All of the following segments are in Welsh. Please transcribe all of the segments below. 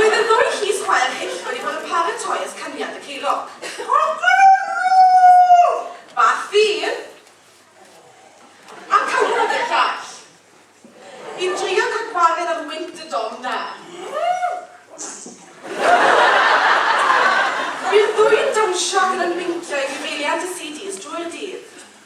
Roedd y ddwy llys chwaer hyll wedi bod yn paratoi at caniad y ceilog. Offerwr! Ba ffydd! A cawod y llall! I drio cael gwared ar wynt y dom 'na. Bu'r ddwy'n dawnsio ac yn ymwyncio i gyfeiliant y CDs drwy'r dydd.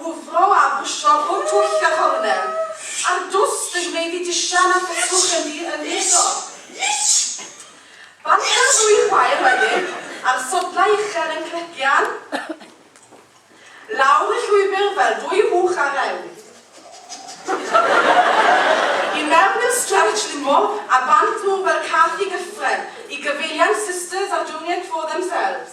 Hwfro a bwsio pob twll a chornel a'r dwst yn gwneud i disian a thwtwch yn ddi ymfudo. Banto'r ddwy chwaer wedyn a'r sodlau uchel yn clegian lawr y llwybr fel dwy fuwch ar rewl. I mewn i'r stretch limo a bant nhw fel cath i gyffren i gyfeiliant Sisters a Junior Tro Themselves.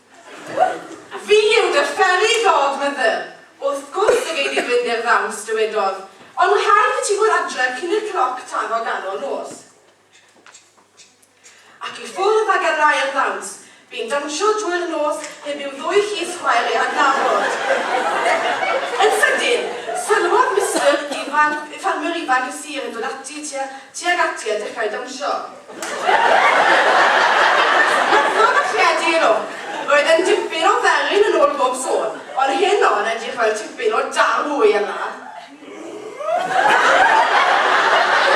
Fi yw dy fferi ddodd mother! Wrth gwrs y gei di fynd i'r ddawns dywedodd, ond ma rhaid i ti fod adre cyn i'r cloc taro ganol nos. Ac i ffwrdd ag yr ail ddawns, bu'n dawnsio drwy'r nos heb i'w ddwy llys chwaer ei adnabod. Yn sydyn, sylwodd Mister ifanc, ffarmwr ifanc y sir yn dod ati tuag ati a dechrau dawnsio. Wrth fygythiadu yn ôl, roedd e'n dipyn o felyn yn ôl bob sôn, ond heno yn edrych fel tipyn o darw wy a na?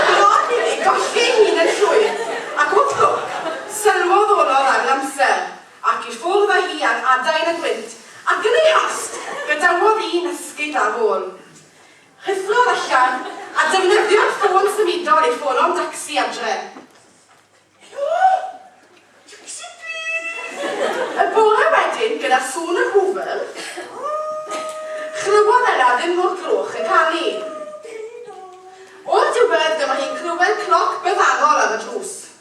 Bron iddi golli ei hun yn llwyr, ac wrth lwc, sylwodd Olof ar Lamsel, ac i ffwrdd â hi ar adain y gwynt, ac yn ei hast, gadawodd un esgid ar ôl. Hyffordd allan a defnyddio'r ffôn symudol i ffono'n dacsi adre. Helo! Dacsi plîs! Y bore wedyn, gyda sŵn yr Hwfl, chlywodd Ella ddim mor groch yn canu. O'r diwedd, dyma hi'n clywed cloc byddannol ar y drws.